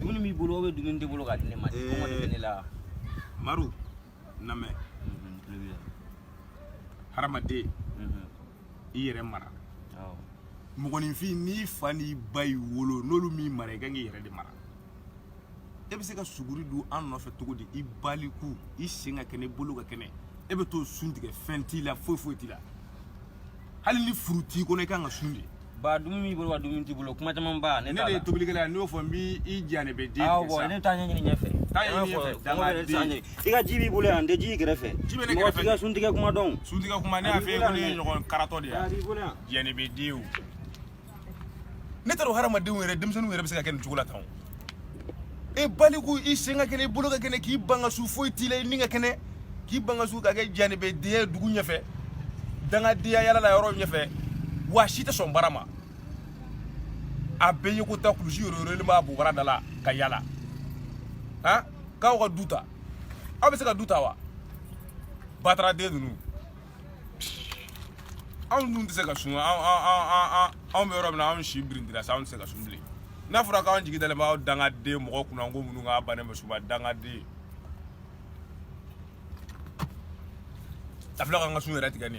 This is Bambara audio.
dumuni b'i bolo bɛ dumuni t'i bolo k'a di ne ma kɔngɔ de bɛ ne la maru lamɛn hadamaden i yɛrɛ mara mɔgɔninfin n'i fa n'i ba y'i wolo n'olu m'i mara i kan k'i yɛrɛ de mara e bɛ se ka suguri dun an nɔfɛ cogo di i baliku i sen ka kɛnɛ bolo ka kɛnɛ e bɛ to sun tigɛ fɛn t'i la foyi foyi t'i la hali ni furu t'i kɔnɔ i kan ka sun de Ba dumuni b'i bolo wa dumuni t'i bolo kuma caman ba ne t'a la. Ne de ye tobilikɛla ye n'o fɔ n b'i i janibeden sa. Awɔ ne bɛ taa ɲɛɲini ɲɛfɛ. Taa ɲɛɲini ɲɛfɛ dangaden. I ka ji b'i bolo yan n tɛ ji y'i kɛrɛfɛ. Ji bɛ ne kɛrɛfɛ. Mɔgɔ t'i ka suntigɛ kuma dɔn. Suntigɛ kuma ne y'a f'i ye ko ne ye ɲɔgɔn karatɔ de ye. A b'i bolo yan. Janibeden o. Ne t'a dɔn hadamadenw yɛrɛ denmisɛnninw yɛrɛ bɛ se ka kɛ nin cogo la tan o. e baliku i sen ka kɛnɛ i bolo ka kɛnɛ k'i ban ka sun foyi t'i la i ni ka kɛnɛ k'i ban ka sun ka kɛ janibedenya dugu ɲɛfɛ dangadenya yala la yɔrɔ ɲɛfɛ wa si tɛ sɔn baara ma a bɛɛ ye ko ta kulusi yoroyorolen b'a bobara da la ka yala han k'aw ka du ta aw bɛ se ka du ta wa bataraden ninnu anw dun tɛ se ka sun anw bɛ yɔrɔ min na anw si birintira sa anw tɛ se ka sun bilen n'a fɔra k'anw jigi dalen b'aw dangaden mɔgɔ kunnago minnu ka bannen bɛ sun ma dangaden a filɛ k'an ka sun yɛrɛ tigɛ nin ye